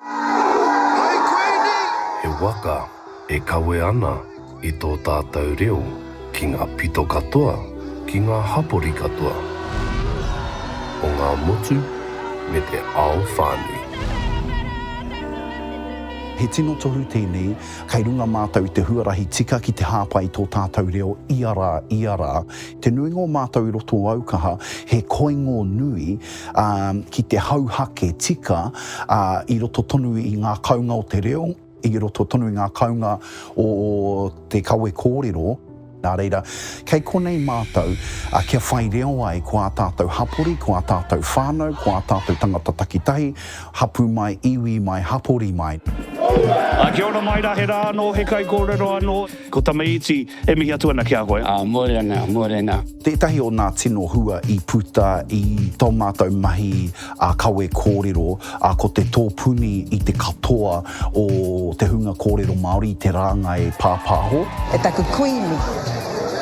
Hai Kuini! He waka e kawe ana i tō tātou reo ki ngā pito katoa, ki ngā hapori katoa o ngā motu me te ao whānui. He tino tohu tēnei, kei runga mātou i te huarahi tika ki te hāpai i tō tātou reo ia rā, ia rā, Te nuinga o mātou i roto o Aukaha, he koingo nui, ā, ki te hauhake tika, ā, i roto tonu i ngā kaunga o te reo, i roto tonu i ngā kaunga o te kawe kōrero, nā reira, kei konei mātou, ā, kia whai reo ai ko ā tātou hapori, ko ā tātou whānau, ko ā tātou tangata takitahi, hapū mai, iwi mai, hapori mai. Ā, kia ora mai rā, he rā anō, he kaikōrero anō. Ko Tamaiti, e mihi atu ana ki a koe. Aa, mōrena, mōrena. Tētahi o nā tino hua i puta i tō mātou mahi a kawe kōrero, a, ko te tōpuni i te katoa o te hunga kōrero Māori i te rāngai pāpāho. E taku kuini,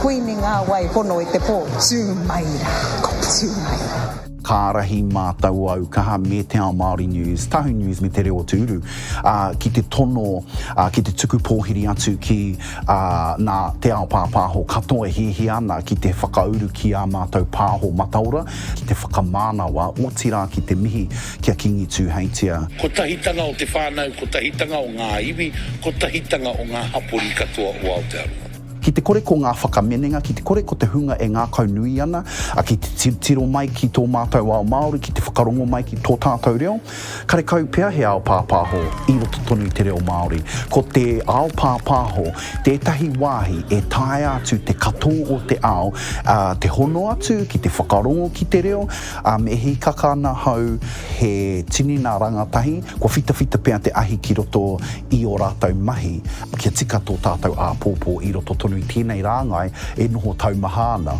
kuini ngā wai pono i te pō, tū mai rā, tū mai rā. Ka ārahi mātou au kaha me Te Ao Māori News, Tahu News me Te Reo o Te Uru ki te tono, ki te tuku pōhiri atu ki nā te ao pāpāho katoa e hiahia ana ki te whakauru ki ā mātou pāho mataora, ki te whakamānawa, otirā ki te mihi ki a Kīngi Tūheitia. Kotahitanga o te whānau, kotahitanga o ngā iwi, kotahitanga o ngā hapori katoa o Aotearoa. Ki te kore ko ngā whakaminenga, ki te kore ko te hunga e ngākaunui ana, a ki te tirotiro mai ki tō mātou ao Māori, ki te whakarongo mai ki tō tātou reo, karekau pea he ao pāpāho i roto tonu i te reo Māori. Ko te ao pāpāho tētahi wāhi e taea atu te katō o te ao, ā, te hono atu ki te whakarongo ki te reo, ā, me hīkaka ana hau he tini nā rangatahi, kua whitawhita pea te ahi ki roto i ō rātou mahi kia tika tō tātou āpōpō i roto tonu i tēnei rāngai e noho taumaha ana.